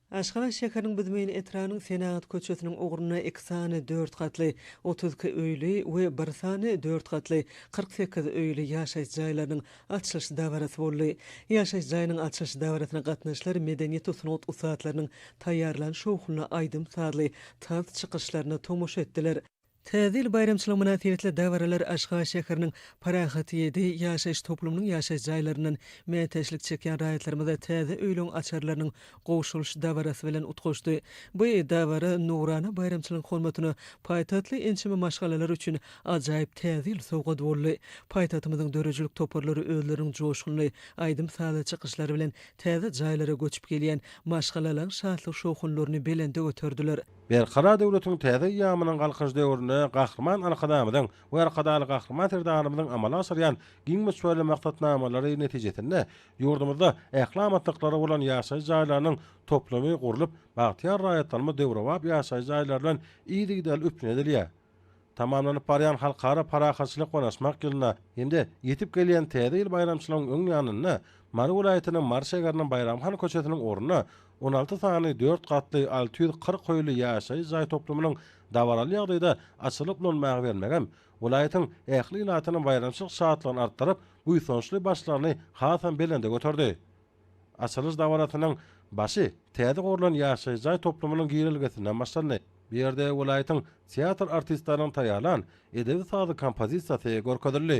Aşgabat şäheriniň Büzmeýin etrabynyň Senagat köçesiniň ugrunda iki sany dört gatly, otuz iki öýli, we bir sany dört gatly, kyrk sekiz öýli ýaşaýyş jaýlarynyň açylyş dabarasy boldy. Ýaşaýyş jaýynyň açylyş dabarasyna gatnaşyjylar medeniýet we sungat ussatlarynyň taýýarlan şowhunly aýdym-sazly tans çykyşlaryna tomaşa etdiler. Täze ýyl baýramçylygy mynasybetli dabaralar Aşgabat şäheriniň Parahat ýedi ýaşaýyş toplumynyň ýaşaýyş jaýlaryndan mätäçlik çekýän raýatlarymyza täze öýlügiň açarlarynyň gowşurylyş dabarasy bilen utgaşdy. Bu dabara nurana baýramçylygyň hormatyna paýtagtly ençeme maşgalalar üçin ajaýyp Täze ýyl sowgat boldy. Paýtagtymyzyň döredijilik toparlary özleriniň joşgunly aýdym-sazly çykyşlary bilen täze jaýlara göçüp gelýän maşgalalaň şatlyk-şowhunlaryny belende göterdiler. Berkarar döwletiň täze eýýamynyň Galkynyş döwründe Gahryman Arkadagymyzyň we Arkadagly Gahryman Serdarymyzyň amala aşyrýan giň möçberli maksatnamalary netijesinde ýurdumyzda ähli amatlyklary bolan ýaşaýyş jaýlarynyň toplumy gurlup, bagtyýar raýatlarymyz döwrebap ýaşaýyş jaýlary bilen yzygiderli üpjün edilýär. Tamamlanyp barýan Halkara parahatçylyk ynaşmak ýylyna hem-de ýetip gelýän Täze ýyl baýramçylygyň öň ýanynda Mary welaýatynyň Mary şäheriniň Baýram han köçesiniň ornuna on alty sany dört gatly alty ýüz kyrk hoýly ýaşaýyş jaý toplumynyň dabaraly ýagdaýda açylyp ulanmaga bermegem welaýatyň ähli ilatynyň baýramçylyk şatlygyny artdyryp, buýsançly başlaryny hasam belende göterdi. Açylyş dabarasynyň başy täze gurlan ýaşaýyş jaý toplumynyň girelgesinden başlandy. Bu ýerde welaýatyň teatr artistleriniň taýýarlan edebi-sazly kompozisiýasy görkezildi.